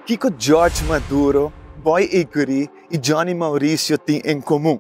Kiko George Maduro, Boy Iguri i Johnny Mauricio tin en komun?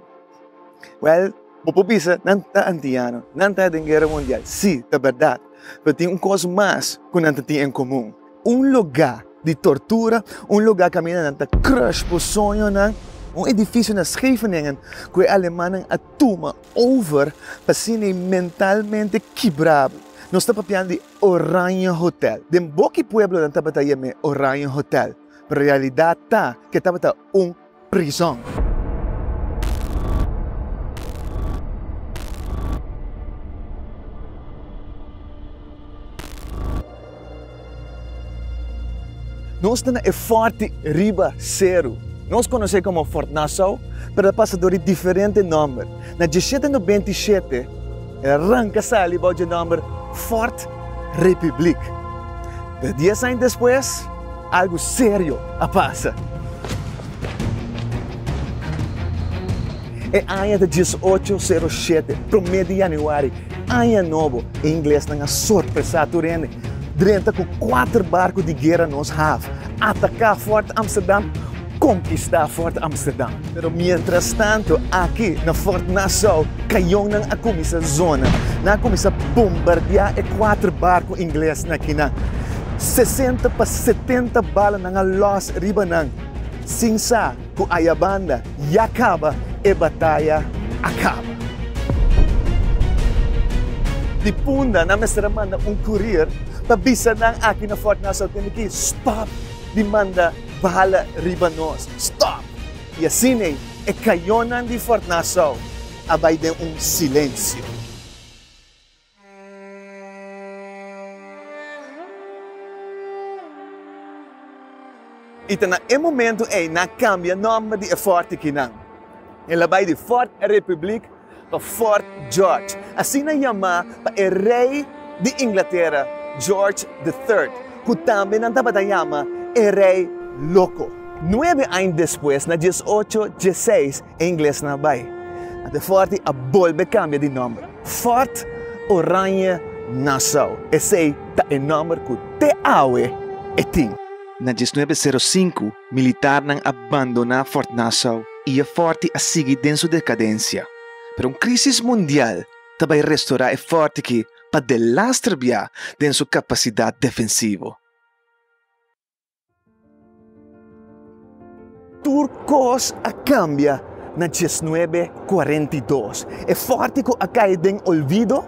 Wèl, bo por bisa, nan ta antiano, nan ta den Guera Mundial, sí, ta bèrdat, pero tin un kos mas ku nan ta tin en komun. Un lugá di tortura, un lugá kaminda nan ta crush bo soñonan, un edifisio na Scheveningen ku e alemannan a tuma over pa siña e mentalmente kibrá bo. Nos ta papiando di Oranje Hotel. Den boki pueblonan tabata yam'é Oranje Hotel, pero e realidat ta ku e tabata un. prizon. Nos ta na e forte riba seru. Nos conoce como Fort Nassau, pero ta pasa dor di diferente nomber. Na diesshete no benti y shete e arranca sali bao dje nomber Fort Republiek. Pero dies aña despues. Algu serio a pasa! E aña ta dies ocho sero shete, promé di yanüari, aña nobo, i inglesnan a sorpresá tur hende. Drenta ku kuater barku di guera nos hav ataká Fort Amsterdam. Konkistá Fort Amsterdam. Pero mientrastanto aki na Fort Nassau kañonnan a kuminsá zona. Nan a kuminsá bombardiá e kuater barku ingles na kinan. Sesenta pa setenta bala nan a lòs riba nan. Sin sa ku ayabanda ya kaba, e bataya a kaba. Di punda nan mester a manda un kurier pa bisa nan aki na Fort Nassau tende ki stòp di manda. bala riba nos, stòp! I asin ei e kayonan di Fort Nassau a bai den un silensio. I ta na e momento ei nan kambia nòmber di e fòrtikinan. El a bai di Fort Republiek. pa Fort George, asina yamá pa e rei di Inglatera George the Third, ku tambe nan tabata yama e rei loko. Nuebe aña despues, na dies ocho dieseis, e inglesnan a bai. Ant e fòrti a bolbe kambia di nòmber, Fort Oranje Nassau. Esei ta e nòmber ku te awe e tin. Na diesnuebe sero sinku, Militarnan a bandoná Fort Nassau i e fòrti a sigui den su dekadensia. Pero un krísis mundial ta bai restorá e fòrti ki pa delas trabia den su kapasidat defensivo. Tur kos a kambia na diesnuebe kuarenta i dos. E fòrti ku a kai den olvido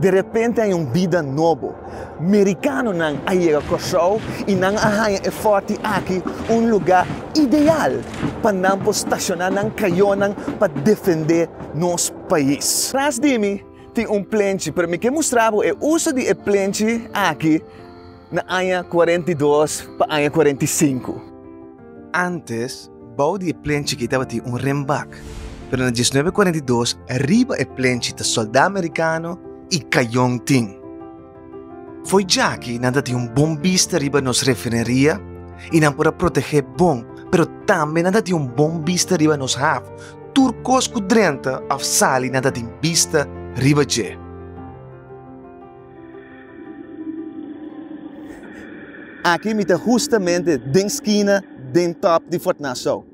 De repente hay un bida nobo. Mericanonan a yega Curaçao y nan a haña e forti aki un luga ideal pa nan por staciona nan cayonan pa defende nos pais. Tras di mi tin un plenchi, pero mi ke mustra bo e uso di e plenchi aki na aña cuarenta y dos pa aña cuarenta y cinco. Antes, bou di e plenchi akí tabatin un renbak, pero na diesnuebe kuarenta i dos riba e plenchi ta sòldá merikano i kayon tin. Fo'i djaki nan ta tin un bon bista riba nos refineria i nan por a protegé bon, pero tambe nan ta tin un bon bista riba nos haf. Tur kos ku drenta òf sali nan ta tin bista riba dje. Aki mi ta hustamente den skina den top di Fort Nassau.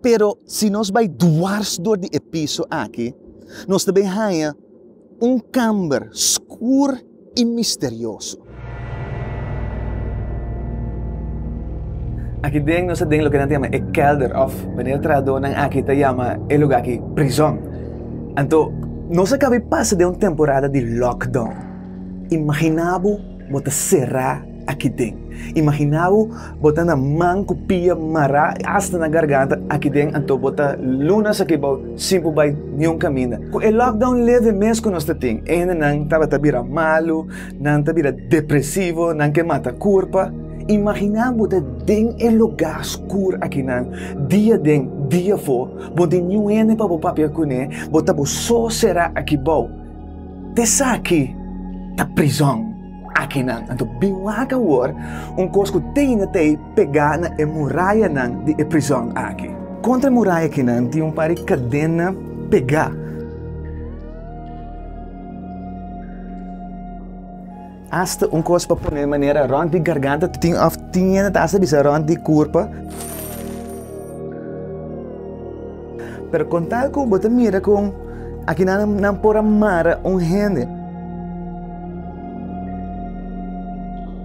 Pero si nos bai dwars dor di e piso aki, nos ta bin haña un kamber skur i misterioso. Aki den nos ta den loke nan ta yama e kelder òf manera trahadonan aki ta yama e luga aki, prizòn. Anto, nos a kabe pasa den un temporada di lockdown. Imaginá bo bo ta será aki den. Imaginá bo bo ta na man ku pia mará asta na garganta aki den, anto bo ta lunas aki bou sin por bai niun kaminda. Ku e lockdown leve mes ku nos ta tin, e hendenan tabata bira malu, nan ta bira depresivo, nan ke mata kurpa. Imaginá bo ta den e lugá skur akinan, dia den, dia for. bo di niun hende pa bo papia kuné, bo ta bo so será aki bou. Esaki ta prizòn akinan. Anto bin wak awor un kos ku teine ta e pegá na e murayanan di e prizòn aki. Kontra e muraya akinan tin un par di kadena pegá. Asta un kos pa pone manera rond di garganta tin of tin hende ta asta bisa rond di kurpa. Pero con tal cu bo ta mira con aquí nan, nan por amara un hende.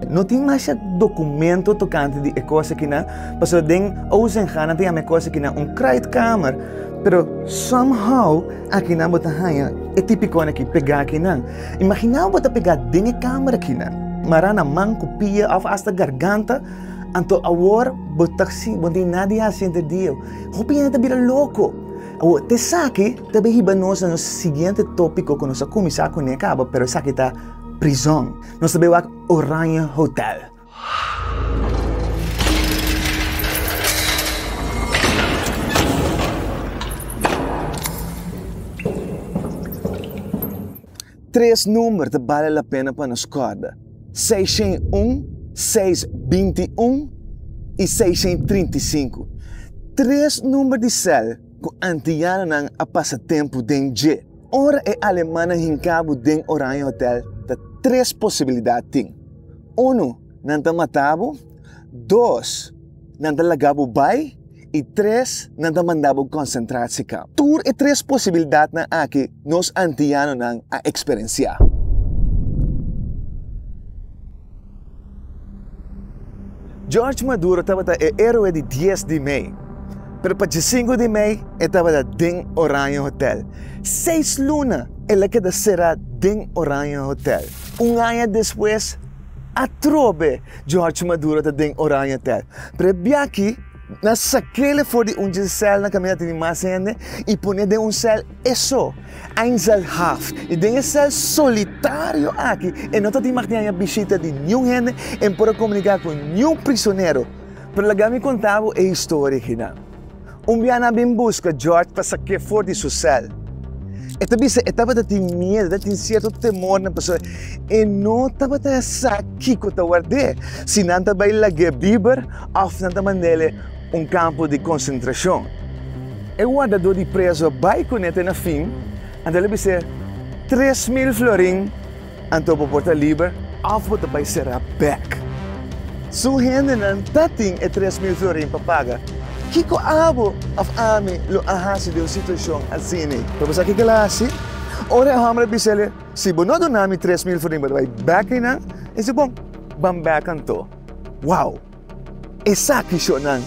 No tin masha documento tocante di e cosa que nan, paso den Ozenga nan te llama e cosa que nan un kruidkamer, pero somehow aquí nan bo ta haya e tipicone aquí pega aquí nan. Imaginá ku bo ta pegá den e kamer akinan, mará na man ku pia òf asta garganta, anto awor bo ta si bo no tin nada di hasi henter di el. Hopi hende ta bira loko. Awor, ta esaki ta bai hiba nos na nos siguiente tópiko ku nos a kuminsá kuné kaba, pero esaki ta prizòn. Nos ta bai wak Oranje Hotèl. Tres number ta bale la pena pa nos kòrda, seishen un, seis binti un i seishen trinti sinku. Tres number di sèl ku antianonan a pasa tempu den dje. Ora e alemannan hinka bo den Oranje Hotel ta tres posibilidat tin. Unu, nan ta mata bo, dos, nan ta laga bo bai, i tres, nan ta manda bo konsentrasiekamp. Tur e tres posibildatnan aki nos antianonan a eksperensiá. George Maduro tabata e héroe di dies di mei, pero pa djesinku di mei e tabata den Oranje Hotel. Seis luna el a keda será den Oranje Hotel. Un aña despues, atrobe George Maduro ta den Oranjetel. Pero e biachi nan sak'ele for di un dje sèl na kaminda tene mas hende i pone den un sèl e so, Einzelhaft. I den e sèl solitario aki e no ta tin mag di haña bishita di niun hende, e no por a komuniká ku niun prisonero. Pero laga mi konta bo e historia, Hinan. Un biaha a bin busca George pa saqué for di su cel. E ta bisa e tabata tin miedo, ta tin cierto temor nan pasobra e no tabata sa kico ta ward'é, si nan ta bay lagu'é biber of nan ta mand'é un campo di concentracion. E wardador di preso a bay cun'é te na fin, anto el a bis'é, Tres mil florin! Anto bo por ta liber of bo ta bai sera bek. Su hendenan ta tin e tres mil florin pa paga. Kico abo of ami lo a haci den un situacion asini? Pero bo sa kico el a haci? Ora e homber a bisa el, Si bo no duna mi tres mil florin bo ta bai bek rinan, el dice, Bon, ban bek anto. Wow! Esaki shownan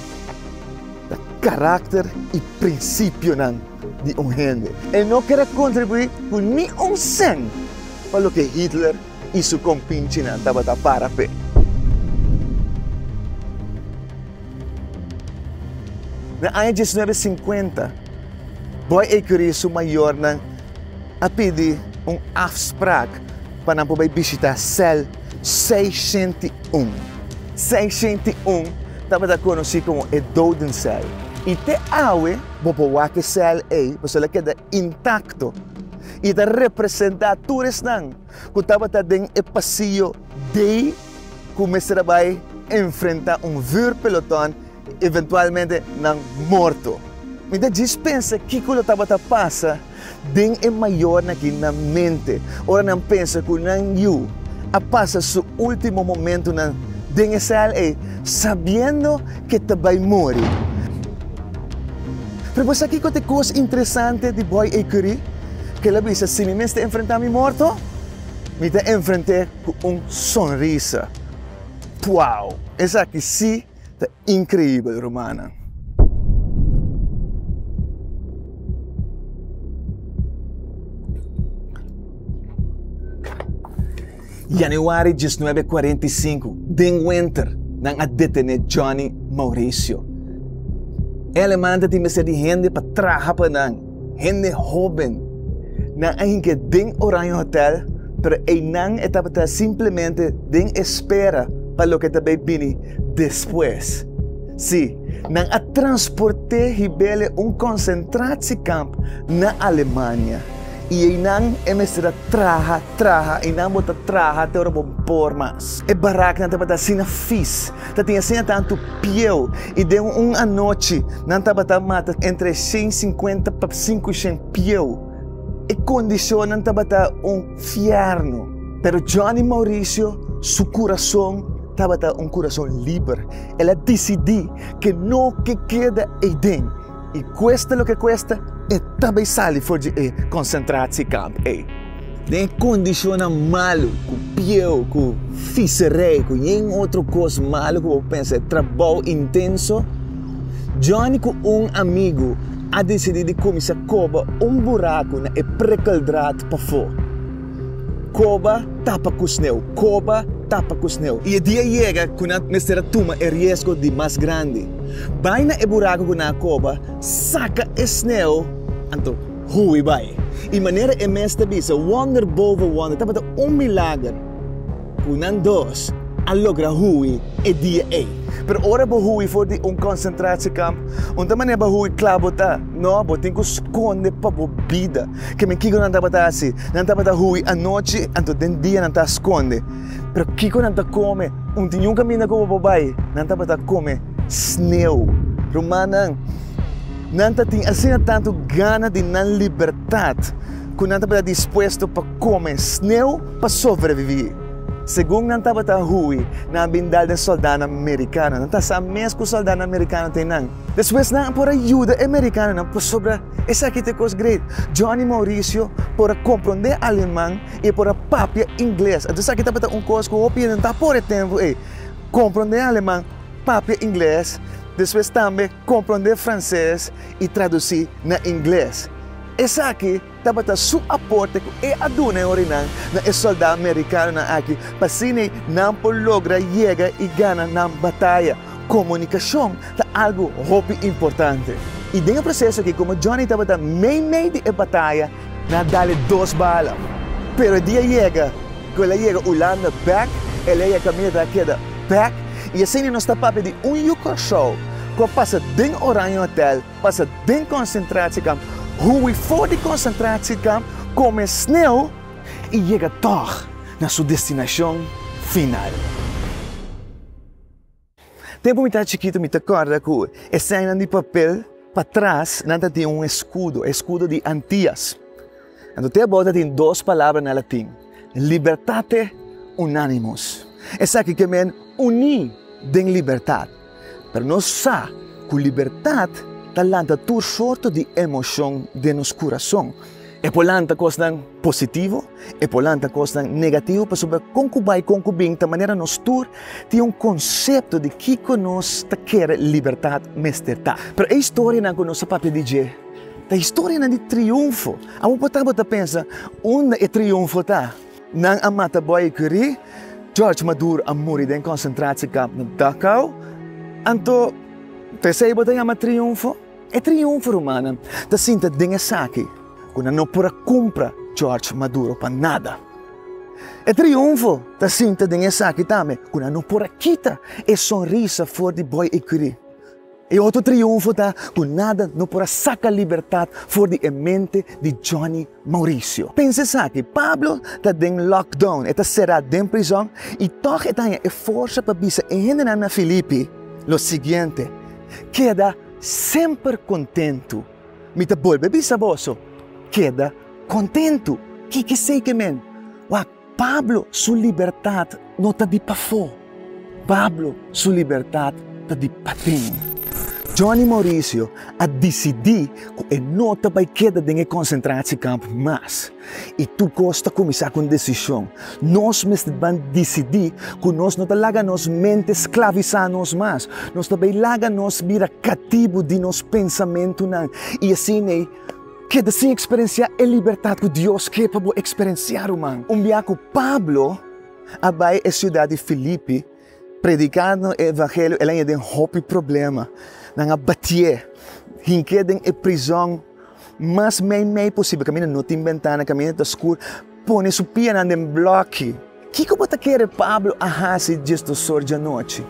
ta karakter i prinsipionan di un hende. E no kere kontribuí ku ni un sèn pa loke Hitler i su kompinchinan tabata para p'e. Na aña diesnuebe sinkuenta, Boy Ecurie i su mayornan a pidi un afsprak pa nan por bai bishitá sèl. 601. 601 tabata konosí komo e dodensèl, i te awe bo por wak e sèl ei pasobra el a keda intakto i e ta representá tur esnan ku tabata den e pasiyo dei ku mester a bai enfrentá un vùrpelotòn. Eventualmente nan morto. Mi ta djis pensa kiko lo tabata pasa den e mayornan aki nan mente ora nan pensa ku nan yu a pasa su último momentunan den e sèl ei sabiendo ke ta bai muri. Pero bo sa kiko ta e kos interesante di bòi ei kuri? Ke lo a bisa, si mi mester enfrentá mi morto, mi ta enfrent'é ku un sonrisa. Puau! Esaki sí! ta increibel rumannan. Januari diesnuebe kuarenta i sinku den wenter nan a detené Johnny Mauricio. E aleman ta tin mester di hende pa traha pa nan. Hende hóben nan a hingé den Oranje Hotèl, pero einan e tabata simplemente den espera pa loke ta bai bini despues. Sí, nan a transport'é hib'el'e un konsentratiekamp na Alemania, i einan e mester a traha, traha i nan bo ta traha te ora bo por mas. E baraknan tabata asina fis. ta tin asina tantu pieu y den un anochi nan tabata mata entre shen cincuenta pa cinco shen pieu. E condicionnan tabata un fierno. Pero Johnny Mauricio su curazon tabata un curazon liber. El a dicidi ke no ke keda eyden. I kuesta loke kuesta, e ta bai sali for di e konsentrasiekamp ei. Den e kondishonnan malu, ku pieu, ku fiserei, ku yen otro kos malu ku bo pensa, e trabou intenso, Johnny ku un amigu a desidí di kuminsá koba un buraku na e prekeldraad pafó. Koba tapa ku sneu, koba tapa ku sneu. I e dia yega ku nan mester a tuma e riesgo di mas grandi. Bai na e buraku ku nan a koba, saka e sneu, anto hui bai. I manera e mes ta bisa, wonder boven wonder, tabata un milager. Cu nan dos a logra hui e dia ey. Pero ora bo hui for di un concentratie-kamp, un ta manera bo a hui cla bo ta? No, bo tin cu sconde pa bo bida. Keme kico nan tabata haci? Nan tabata hui anochi, anto den dia nan ta a sconde. Pero kico nan ta come? Un tin un caminda cu bo por bay, nan tabata come sneu. Rumannan, nan ta tin asina tanto gana di nan libertad cu nan tabata dispuesto pa come sneu. Pa sobreviví. Segun nan tabata hui, nan a bin dal den sòldanan merikano. Nan ta sa mes ku sòldanan merikano tin nan. Despues nan a por a yuda e merikanonan pasobra esaki ta e kos grei. Johnny Mauricio por a komprondé aleman i e por a papia ingles. Anto esaki tabata un kos ku hopi hende no ta por e tempu ei, komprondé aleman, papia ingles, despues tambe komprondé franses i tradusí na ingles. Esaki. Tabata su aporte cu e a duna e orinan na e solda Mericanonan aki p'asina nan por logra yega y gana nan bataya. Comunicacion ta algo hopi importante. Y den e proceso aki, como Johnny tabata mei mei di e bataya, nan a dale dos bala. Pero e dia yega cu el a yega Hulanda bek, el a yega caminda ta keda bek y asina nos ta papia di un yu Curacao cu a pasa den Oranje Hotel, Pasa den konsentrasiekamp, hui for di konsentrasiekamp, kome snel i yega tòg na su destinashon final. Tempu mi ta chikitu mi ta kòrda ku e sènnan di papel patras nan ta tin un eskudo, eskudo di Antias. Anto te bòrda tin dos palabra na latin, libertate unanimus. Esaki ke men uní den libertat. Pero nos sa ku libertat ta lanta tur sorto di emoshon den nos kurason. E por lanta kosnan positivo, e por lanta kosnan negativo pasobra kon ku bai kon ku bin ta manera nos tur tin un konsepto di kiko nos ta kere libertat mester ta. Pero e historianan ku nos a papia di dje Ta historianan di triunfo. Abo por tabata pensa, Unda e triunfo ta? Nan a mata Boye Curie, George Maduro a muri den konsentrasiekamp na Dachau, anto ta esei bo ta yama triunfo? E triunfo, rumannan, ta sinta den esaki ku nan no por a kumpra George Maduro pa nada. E triunfo ta sinta den esaki tambe ku nan no por a kita e sonrisa for di Boye Curie. E otro triunfo ta cu nada no por a saca libertad for di e mente di Johnny Mauricio. Pensa esaki, Pablo ta den lockdown, e ta cera den prizon y tog e ta haña e forza pa bisa e hendenan na Filipi lo siguiente, Keda semper contentu. Mi ta bolbe bisa boso, Keda contentu. Kiko esey ke men? Wak. Pablo su libertat no ta di pafó. Pablo su libertat ta di paten. Johnny Mauricio a disidí ku e no ta bai keda den e konsentrasiekamp mas. I tur kos ta kuminsá ku un desishon. Nos mester ban disidí ku nos no ta laga nos mente sklavisá nos mas. Nos ta bai laga nos bira katibu di nos pensamentunan i asin'ei Keda sin eksperensiá e libertat ku Dios ke pa bo eksperensiá, ruman. Un biaha ku Pablo a bai e siudat di Filipi predikando e evangelio, el a yega den hopi problema. Nan a batié, hink'é den e prizòn mas mei mei posibel, kaminda no tin bentana, kaminda ta skur, pone su pianan den blòki. Kiko bo ta kere Pablo a hasi diesdosor djanochi?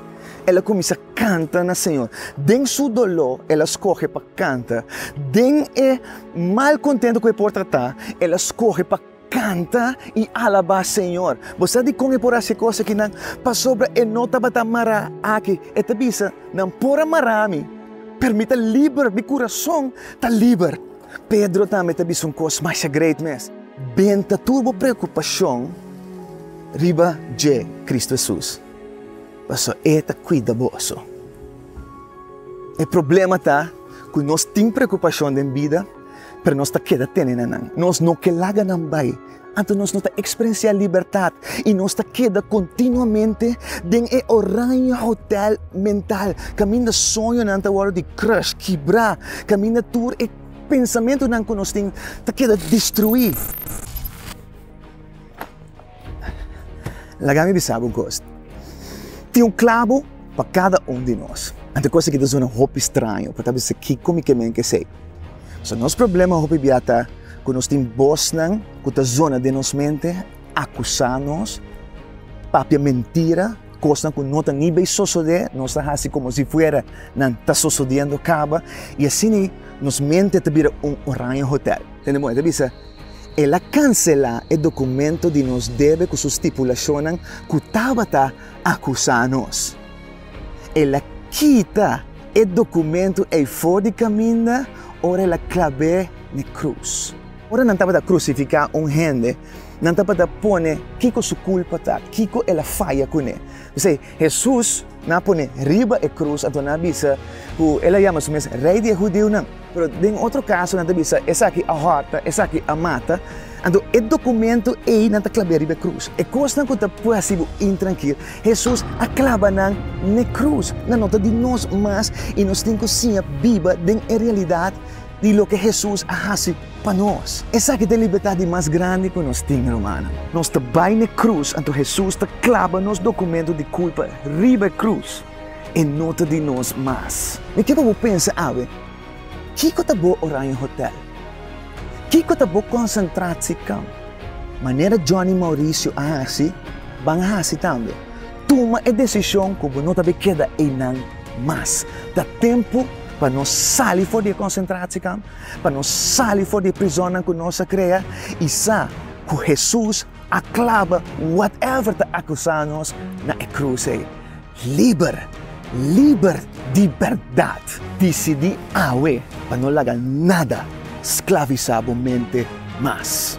El a kuminsá kanta na Señor. Den su doló el a skohe pa kanta. Den e mal kontentu ku e por tratá, el a skohe pa kanta i alabá Señor. Bo sa dikon e por hasi e kos akinan? Pasobra e no tabata mará aki. E ta bisa, Nan por a mará mi, pero mi ta liber, mi kurason ta liber. Pedro tambe ta bisa un kos masha great mes. Benta tur bo preokupashon riba dje, Kristu Hesus, pasobra E ta kuida boso. E problema ta ku nos tin preokupashon den bida, pero nos ta keda tene na nan. Nos no ke laga nan bai. Anto nos no ta eksperensiá libertat i nos ta keda kontinuamente den e oranje hotèl mental, kaminda soñonan ta wòrdu di crush, kibrá, kaminda tur e pensamentunan ku nos tin ta keda destruí. Laga mi bisa bo kos, tin un klabo pa kada un di nos. Anto kos aki ta sona hopi straño, bo ta bisa kiko mi ke men ke esei? So nos problema hopi bia ta ku nos tin bosnan ku ta zona den nos mente, akusá nos, papia mentira, kosnan ku no ta ni bei sosodé, nos ta hasi komo si fuera nan ta sosodiendo kaba, i asina nos mente ta bira un oraña hotèl. Tende moe ta bisa, El a kanselá e dokumento di nos debe ku su stipulashonnan ku tabata akusá nos. El a kita e documentu ei for di caminda ora El a clab'é n'e cruz. Ora nan tabata crucificá un hende, nan tabata pone kico su culpa ta, kico El a faya cu n'e. P'esei, Hesus nan a pone riba e cruz, anto nan a bisa cu El a yama Su mes Rey di e Hudiunan. Pero den otro kaso nan ta bisa, Esaki a hòrta, esaki a mata. Anto, e dokumento ei nan ta klab'é riba e krus. E kosnan ku ta por hasi bo intrankil, Hesus a klaba nan na e krus. Nan no ta di nos mas i nos tin ku siña biba den e realidat di loke Hesus a hasi pa nos. Esaki ta e libertat di mas grandi ku nos tin, rumannan. Nos ta bai na e krus, anto Hesus ta klaba nos dokumento di kulpa riba e krus. E no ta di nos mas. Mi kier pa bo pensa awe, Kiko ta bo Orion Hotel? Kiko ta bo Concentratie Kamp? Manera Johnny Mauricio a hasi, ban a hasi tambe. Tuma e decision cu bo no ta be keda eynan mas. Ta tempo pa nos sali for di e Concentratie Kamp, pa nos sali for di e prizonnan cu nos a crea y sa cu Jesus A claba whatever ta acusa nos na e cruz ey. Liber, liber di berdad. Dicidi awe pa no laga nada sclavisa bo mente mas.